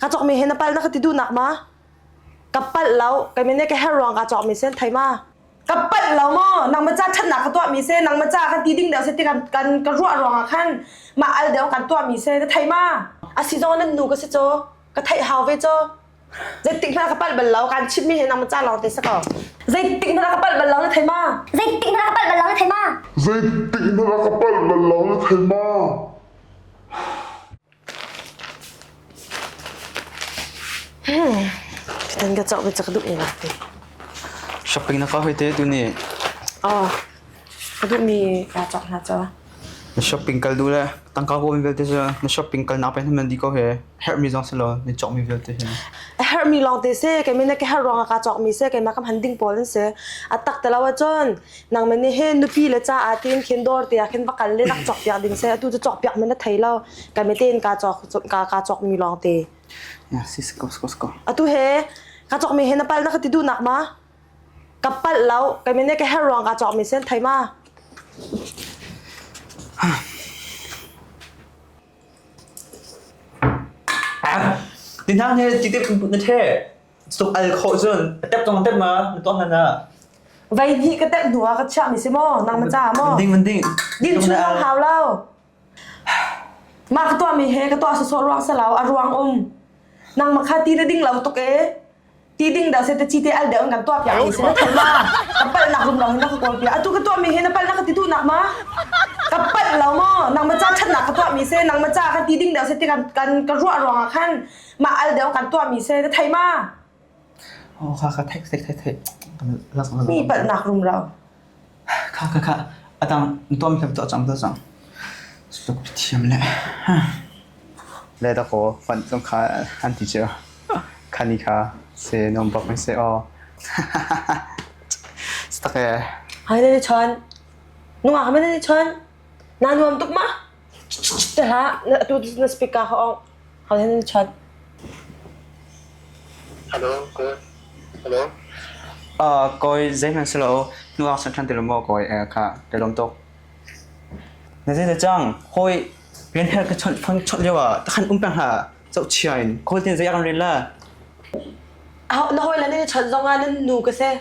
ka cawkmi he na pal na ka ti duhnak ma ka palh lo kei mene ka her ruang ka cawkmi sen thai ma ka palh lo mo nang macha chatnak ka tuahmi se nang macha kan ti ding deu se ti kan kan ka ruah ruang ah khan ma al deu kan tuahmi se na thai ma asi zong nan nu ka se cho ka thai hau ve cho zeitik hna ka palh bal lo kan chip mi he nang macha lawng te se ko zeitik hna ka palh bal lo na thai ma zeitik hna ka palh bal lo na thai ma zeitik hna ka palh bal lo na thai ma Kan ka cawk ve cak duh ila. Shopping na ka hoi te tu ni. Oh, ka duh mi ka cawk hna cho. Na shopping kal du le tangka ko min vel te se na shopping kal na pe man di ko he her mi jong se lo ni chok mi vel te he. Her mi long te se ke mene ke her rong ka cawk mi se ke ma kam handing pol se. Atak te lawa chon nangmah nih hin nupi le caah tiin khin dawr te ah khin va kal le rak cawk piak ding seh atu cu cawk piak men a thei lo ka me tein ka cawk ka ka cawk mi lawng te yeah si sko sko sko atu he ka cawk mi he na pal na ka ti du nak ma ka pal lo ka me ne ka her rong ka cawk mi sen thai ma Dinang he tiktik pun na the Tuk al khawh cun ka tep cang tep ma na ton hlan ah vei hnih ka tep hnu ah ka chiah mi si maw nang na ca maw ding man ding din chung lo hau lo ma ka tuah mi he ka tuah so so ruang sa lau a ruang um nang ma kha ti na ding lo tuk e ti ding da se te chi te al de un kan tuah pya mi si na thon ma ka pal nak rum long na ka kol pya atu ka tuah mi he na pal na ka ti tu nak ma ka pal lo mo nang ma cha chan na ka tuah mi se nang ma cha ka ti ding da se te kan kan ka ruwa ruang a khan Mah al deuh kan tuah mi se ka thei ma? Oh kha kha thei thei thei thei. Lak lak. Mi palh nak rum lo. Kha kha kha adam tom hlem to chang to chang. Suk thiam le. Le da ko fan chong kha an ti chero. Khani kha se nom bak mi se o. Stake. Hai ne chon. Nunga ha ne chon. Na nuam tuk ma? Te ha na tu na speaker ho Kawi zeihmanh si lo. Nuak san than tilum maw kawi kha tilum tuk. Na zei na cang? Hoi rian her ka chawnh phong chawnh lio ah takhan um peng ha. Chau chiain. Kawi tin zei akan ril la. Na hoi la ni chawnh zong ah nan nu ka se.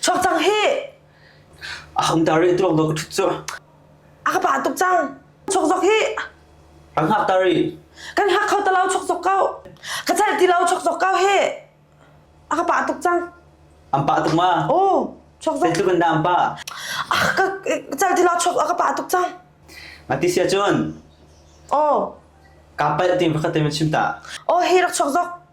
Chuak cang hi! A hong tar i tuak dawk thut cu. A ka pah tuk cang. Chuak zok hi! A hngak tar i. Kan hak kho ta lo chuak zok ko. Ka celh ti lo chuak zok ko hi! A ka pah tuk cang. An pah tuk ma? Oh! Chuak zok. Zeitluk in dah an pah? A ka celh ti lo chuak a ka pah tuk cang. Ma ti sia cun. Oh! Kaa palh ti pakhat te ma chim ta. Oh hi rak chuak zok.